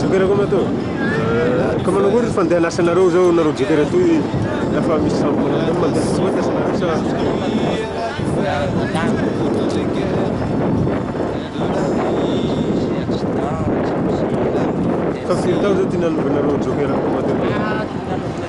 Joker koa matoa. Ka manao koa ry fandehanasa nareo zao nareo joker atoy lafa misy sambo manao zany mandeha tsy mahita nareo sa. Fa firy taona zao ty nanova nareo joker koa matoa.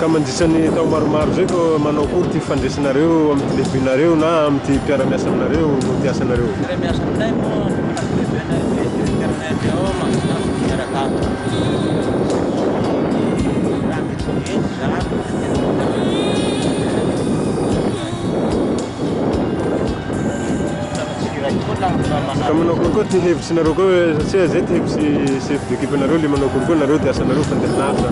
Ka mandritra ny tao maromaro izay ka manao akory ity fandresanareo amin'ity lehibinareo na amin'ity mpiara-miasa aminareo no mpiasa anareo? Mpiara-miasa aminay moa tokony lehibe anay hoe internet ao mampita miaraka aminy Ka manao concours ty hevitry nareo koa hoe satria zay ty hevitry chef d'équipe nareo le manao concours nareo de asanareo mpandeha lavitra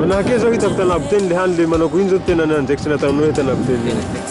Manahake zao hitako tanaboteny le hany le manao ko iny zao tena andraikitry nataonao hoe tanaboteny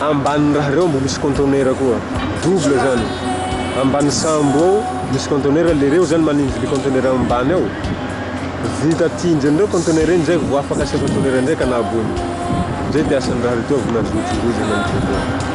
Ambanin'ny raha reo mbo misy conteneur koa double zany ambany sambo ao misy conteneur le reo zany manindry le conteneur ambany ao vita tinjy an'ireo conteneur iny zay vo afaka asia conteneur ndray ka nahaboany zay de asan'ny raha reo vo nazotongozana amizay zany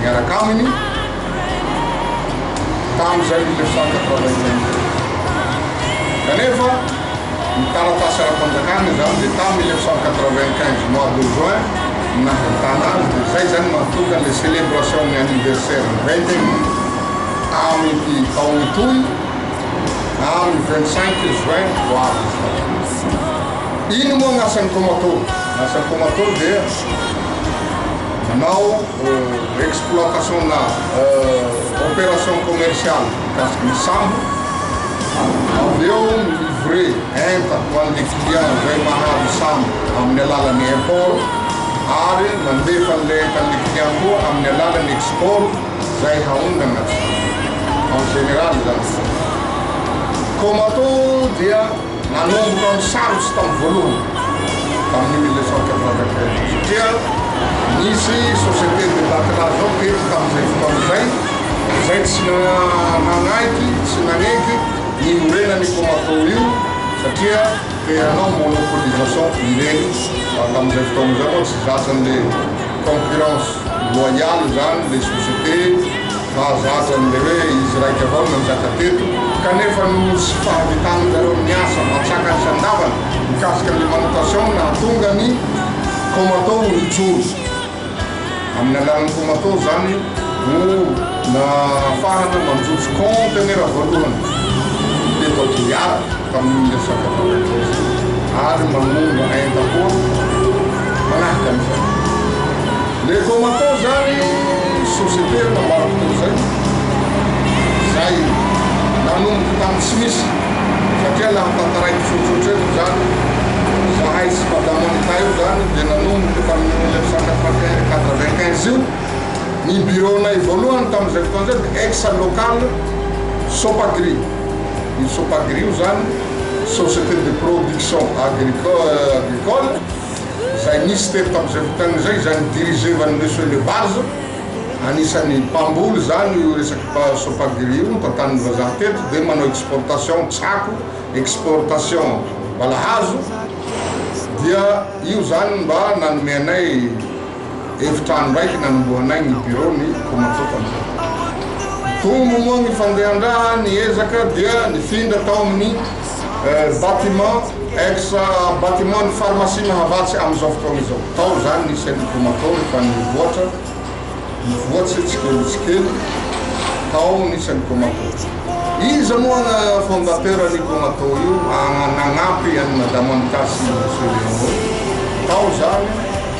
Niaraka aminy tamin'izay ny Lesac quatre-vingt-quinze. Kanefa, ny taratasy ara-panjakana izany dia tamin'ny mille neuf cent quatre-vingt-quinze mois de juin no nahitana azy, dia izay izany no mahatonga ilay celebration-n'ny anniversaire vingtième amin'ity taona itoy amin'ny vingt-cinq juin ho avy izao. Ino moa ny asan'ny Komato? Ny asan'ny Komato dia manao. exploitation na opération commerciale mikasikin'ny sambo, avy eo mi-livrer enta ho an'ilay client izay mahazo sambo amin'ny alalan'ny import ary mandefa an'ilay entan'ilay client koa amin'ny alalan'ny export izay haongana ny sambo, en général izany. Comato dia. Nanomboka amin'ny sarotra tamin'ny voalohany, tamin'ny mille neuf cent quatre-vingt-treize, satria nisy Société de matelas zao tetsy tamin'izay fotoana izay, izay tsy nanaiky, tsy naneky ny hiorenan'io Comaco io satria te hanao monopolisation ireny. Tamin'izay fotoana izay moa tsy zatra an'ilay concurrence loyale izany ilay société. Mahazo azy amin'ilay hoe izy raika avao no nanjaka teto, kanefa noho tsy fahavitan'ny zareo amin'ny asa mantsaka ny sandavany mikasika an'ilay manutation no nahatonga ny Komato ho nijoro. Amin'ny alalan'ny Komato izany no nahafahana manjojo kaontenera voalohany teto Aguiar tamin'ny resaka vatan-kery ary manonga entam-poro manahaka an'izany. Les combattants zany société nambarako teo zay zay nanomboka tam tsy misy satria nahatantaraiky tsotsotra eto zany zahay sy madame Anita io zany de nanomboka tam mille neuf cent quatre-vingt-un quatre-vingt-quinze io ny bureau nay voalohany tam zay fotoana zay de ex local Sopagri io Sopagri io zany société de production agricole agricole izay nisy teto tamin'izay fotoana izay, izay ni-diriger an'i Monsieur Le Vars, anisan'ny mpamboly izany io resaky ba Sopagri io, notantanin'ny vazaha teto, dia manao exportation tsako, exportation balahazo, dia io izany mba nanome anay. Efitrano raiky nanombohanay ny birao ny Komatsô tamin'izay. Nitombo moa ny fandehan-draha, ny ezaka dia nifindra tao amin'ny bâtiment, ex bâtiment ny pharmacie Mahavatsy amin'izao fotoana izao. Tao izany ny Centre Komatsô rehefa nivoatra, nivoatse tsikely tsikely tao ny Centre Komatsô. Iza moa ny fondateur ny Komatsô io nagnampy an'i Madame Anita sy Monsieur Léon eo? Tao izany.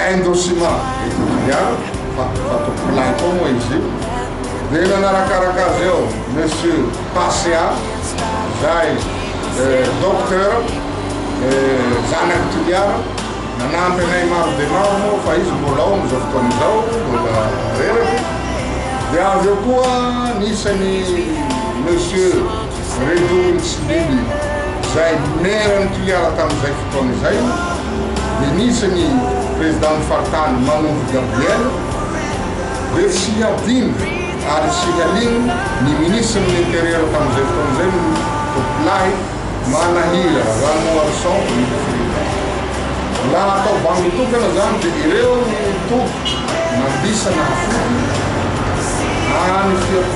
Indocima Etelvia, fa Fatou Play koa moa izy io, dia nanarakaraka azy eo Monsieur Pasea, izay Docteur, zanak'i Toliara, nanampy anay maro dia maro moa fa izy mbola ao amin'izao fotoana izao, mbola reraka izy, dia avy eo koa nisy an'i Monsieur. Zay zao ny tsy mily zay maire ny toliara tamin'izay fotoana izay dia nisy ny président ny faritany Manondro Gabriel dia tsy hadino ary tsy haligno ny ministre ny intérieur tamin'izay fotoana izay ny tompolahy Manahira Ranoarison ny président la atao bandy tokana zany dia ireo ny toby mandisa nahafoty any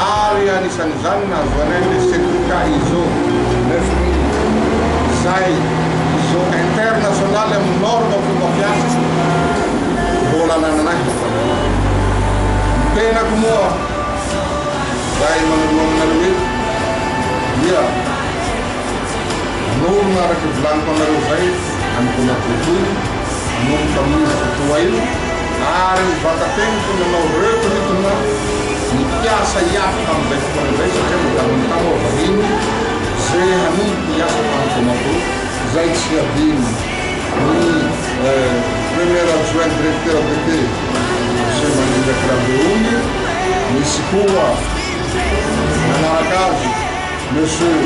Ary anisan'izany nahazoanay ilay Sendika Iso neuf mille, izay Iso internasionaly amin'ny norme fomba fiasa. Mbola anananay ny tavoahangy io. Ny tenako moa, izay manoloana anareo eto, dia hanorina araka ny volaniko anareo izay, hanomboana boribory, hanorina tamin'io izy fotoa io. Ary ny vatateniko nanao retrritona ny mpiasa hiato tamin'izay fotoana izay satria notanin'ny tany ao aoriany ze hanomboka hiasa tany Bamako izay tsy hadino ny Premier Adjoint Directeur DP Monsieur Mandrindraky Rabeony, nisy koa nanaraka azy Monsieur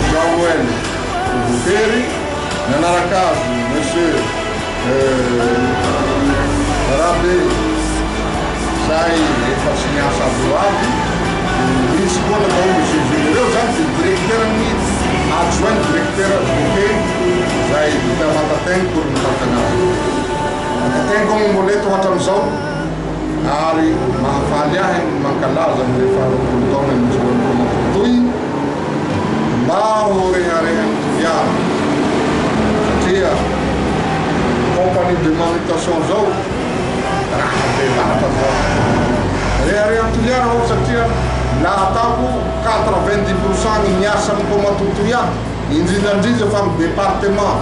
Jean Noël Votery, nanaraka azy Monsieur. Rambe, zay efa tsy miasa avy eo avy, misy koa natao ny GV ireo zany de directeur ny adjoint directeur advoqué zay vita matatain pour ny mpampianarana. Matatain koa moa mbola eto hatram'izao. ary mahafaly ahy ny mankalaza ny faharoapolo taona nijoran'i Ramatoa Toi mba ho reharehan'ny fihara satria compagnie de manutation zao raha be vata zao reharehan'ny toliara aho satria la ataoko quatre vingt dix pour cent ny miasa amin'i Ramatoa Toi ato indrindrandrindra fa ny département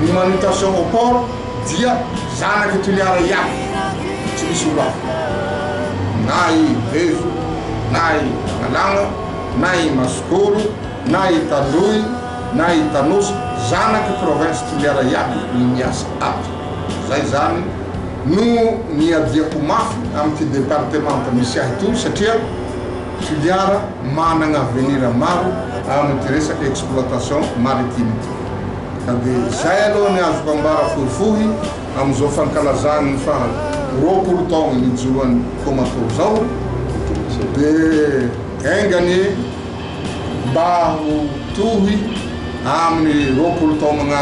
ny manutation au port Dia zanak'i Toliara ihany, tsy misy olo hafa, na i Revo, na i Manalagna, na i Masokoro, na i Taloy, na i Tanosy, zanak'i Province Toliara ihany no miasa ato. Zay zany no niadiako mafy amin'ity departemanta misy ahy ito satria Toliara managna avenir maro amin'ity resaka exploitation maritime ity. Ka dia izay aloha ny azoko ambara fohifohy amin'izao fankalazany ny faha roapolo taona nijoroan'i Toamasôro izao dia enga anie mba ho tohy amin'ny roapolo taona magnaraka.